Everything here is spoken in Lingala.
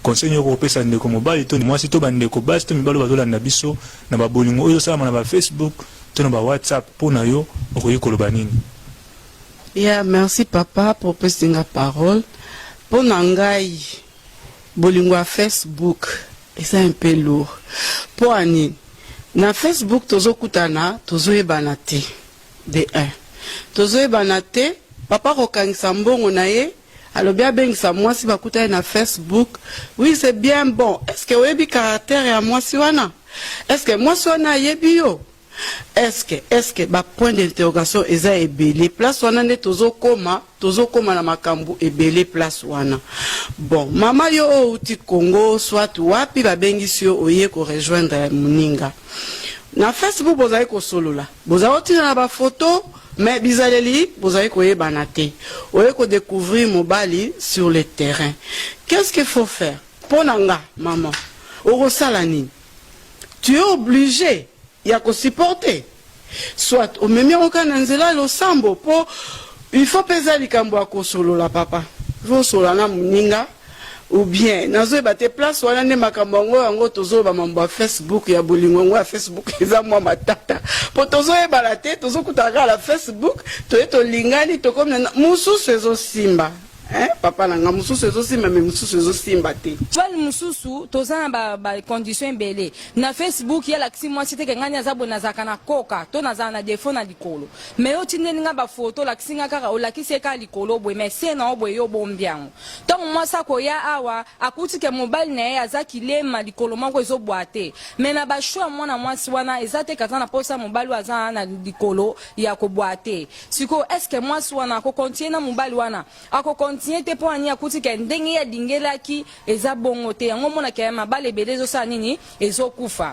Conseil nini oko pesa ndeko mobali to mwasi to ba ndeko basi to mibali bazo landa biso na ba bolingo oyo ezo salama na ba Facebook to na ba WhatsApp po na yo okoki koloba nini? Ya merci papa po opesi nga parole po na ngai bolingo ya Facebook eza un peu lourd po anini na Facebook tozokutana tozoyebana te de un tozoyebana te papa kokangisa mbongo na ye alobi abengisa mwasi bakutani na facebook oui c'est bien bon est-ce que oyebi caractère ya mwasi wana est-ce que mwasi wana ayebi yo est-ce que est-ce que ba point d'interrogation eza ebele place wana nde tozokoma tozokoma na makambo ebele place wana bon mama yo oyo outi congo soit wapi babengisi yo oye korejoindre moninga na facebook bozali kosolola bozali kotinda na bafoto Mais bizaleli bozali koyebana te oye ko decouvrir mobali sur le terrain qu'est ce que faut faire pona nga maman okosala nini tu es oblige ya ko supporter soit omemi yango kaka na nzela ya losambo po il faut peza likambo ya kosolola papa il faut osolola na moninga ou bien nazoyeba te place wana nde makambo yango yango tozoloba mambo ya facebook ya bolingo yango ya facebook eza mwa matata mpo tozoyebana te tozokutana kaka na facebook toye tolingani tokomi na mosusu ezosimba Eh, papa na nga mosusu ezosimba me mosusu ezosimba te bale mosusu toza na bacondition ba ebele na facebook yalakisi mwasi teke ngani aza boye nazalaka na koka to nazala na defo na likolo me yo tindeli nga bafoto olakisi nga kaka olakisi ye kaka likolo boye me se na yo boye yo bombi yango Ntango mwasi akoya awa akuti ke mobali na ye aza kilema likolo moko ezobwa te me na basho ya mwana mwasi wana eza te kaza na mposa ya mobali oyo aza na likolo ya kobwa te sikoyo eske mwasi wana akokontinue na mobali wana akokontinue te mpo ani akuti ke ndenge ye alingelaki eza bongo te yango omonaka ya mabala ebele ezosala nini ezokufa